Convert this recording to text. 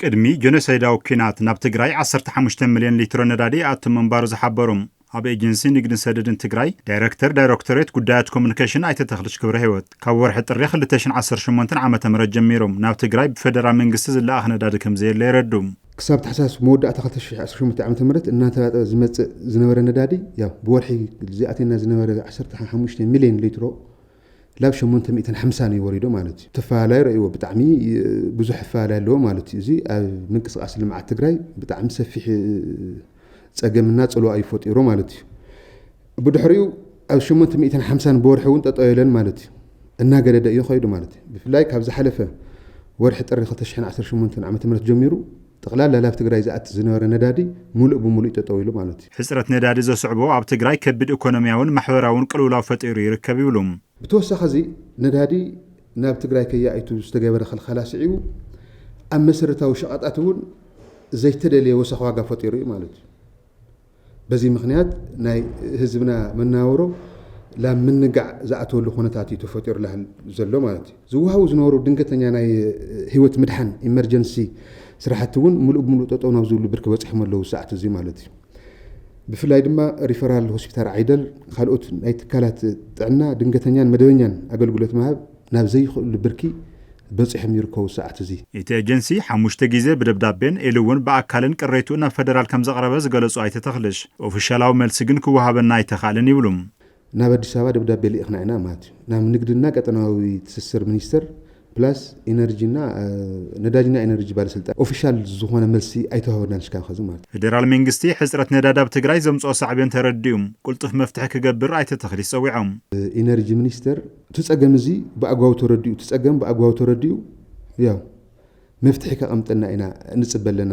ቅድሚ ጆኖሶይዳዊ ኲናት ናብ ትግራይ ዓሰርተ ሓሙሽተ ሚልዮን ሊትሮ ነዳዲ ይኣቱ ምንባሩ ዝሓበሩ ኣብ ኤጀንሲ ንግድን ሰደድን ትግራይ ዳይረክተር ዳይረክቶሬት ጉዳያት ኮሙኒኬሽን ኣይተ ተኽልች ክብረሂወት ካብ ወርሒ ጥሪ ክልተ ሽሕን ዓሰርተ ሸሞንተን ዓመተ ምህረት ጀሚሩ ናብ ትግራይ ብፌደራል መንግስቲ ዝለኣኽ ነዳዲ ከምዘየለ የረድኡ። ክሳብ ታሕሳስ መወዳእታ ክልተ ሽሕ ዓሰርተ ሸሞንተ ዓመተ ምህረት እናተራጠበ ዝመፅእ ዝነበረ ነዳዲ ያው ብወርሒ ዝኣትየና ዝነበረ ዓሰርተ ሓሙሽተ ሚልዮን ሊትሮ ላብ ሸሞንተ ሚእትን ሓምሳን እዩ ወሪዶ ማለት እዩ። ተፋላላይ ረእይዎ ብጣዕሚ ብዙሕ ኣፋላላይ ኣለዎ ማለት እዩ። እዚ ኣብ ምንቅስቃስ ልምዓት ትግራይ ብጣዕሚ ሰፊሕ ፀገምና ፅልዋ እዩ ፈጢሩ ማለት እዩ። ብድሕሪኡ ኣብ ሸሞንተ ሚእትን ሓምሳን ብወርሒ እውን ጠጠው የለን ማለት እዩ። እናገደደ እዩ ከይዱ ማለት እዩ። ብፍላይ ካብ ዝሓለፈ ወርሒ ጥሪ ክልተ ሽሕን ዓሰርተ ሸሞንተን ዓመተ ምህረት ጀሚሩ ጠቕላላ ላብ ትግራይ ዝኣቲ ዝነበረ ነዳዲ ሙሉእ ብሙሉእ ጠጠው ኢሉ ማለት እዩ። ሕፅረት ነዳዲ ዘስዕቦ ኣብ ትግራይ ከቢድ ኢኮኖሚያዊን ማሕበራዊን ቅልውላው ፈጢሩ ይርከብ ይብሉ። ብተወሳኺ እዚ ነዳዲ ናብ ትግራይ ከይኣይቱ ዝተገበረ ኽልኸላ ስዒቡ ኣብ መሰረታዊ ሸቐጣት እውን ዘይተደልየ ወሰኽ ዋጋ ፈጢሩ እዩ ማለት እዩ። በዚ ምኽንያት ናይ ህዝብና መነባብሮ ላብ ምንጋዕ ዝኣትወሉ ኩነታት እዩ ተፈጢሩ ዘሎ ማለት እዩ። ዝወሃቡ ዝነበሩ ድንገተኛ ናይ ህይወት ምድሓን፣ ኢመርጀንሲ፣ ስራሕቲ እውን ምሉእ ብምሉእ ጠጠው ናብ ዝብሉ ብርኪ በፂሖም ኣለው እዚ ሰዓት እዙይ ማለት እዩ። ብፍላይ ድማ ሪፈራል ሆስፒታል ዓይደር ካልኦት ናይ ትካላት ጥዕና ድንገተኛን መደበኛን ኣገልግሎት ምሃብ ናብ ዘይኽእልሉ ብርኪ በፂሖም ይርከቡ ሰዓት እዚ። እቲ ኤጀንሲ ሓሙሽተ ጊዜ ብደብዳቤን ኢሉ እውን ብኣካልን ቅሬትኡ ናብ ፌደራል ከምዘቕረበ ዝገለፁ ኣይተ ተኽልሽ፣ ኦፊሻላዊ መልሲ ግን ክወሃበና ኣይተኽኣለን ይብሉ። ናብ ኣዲስ ኣበባ ደብዳቤ ልኢኽና ኢና ማለት እዩ። ናብ ንግድና ቀጠናዊ ትስስር ሚኒስቴር ፕላስ ኢነርጂ እና ነዳጅና ኢነርጂ ባለስልጣን ኦፊሻል ዝኾነ መልሲ ኣይተዋህበናን እስካብ ኸዚ ማለት እዩ። ፌደራል መንግስቲ ሕፅረት ነዳዲ ኣብ ትግራይ ዘምፅኦ ሳዕቤን ተረዲኡ ቅልጡፍ መፍትሒ ክገብር ኣይተ ተኽሊሽ ፀዊዖም። ኢነርጂ ሚኒስቴር እቲ ፀገም እዚ ብኣግባቡ ተረዲኡ እቲ ፀገም ብኣግባቡ ተረዲኡ ያው መፍትሒ ከቐምጠልና ኢና ንፅበ ኣለና።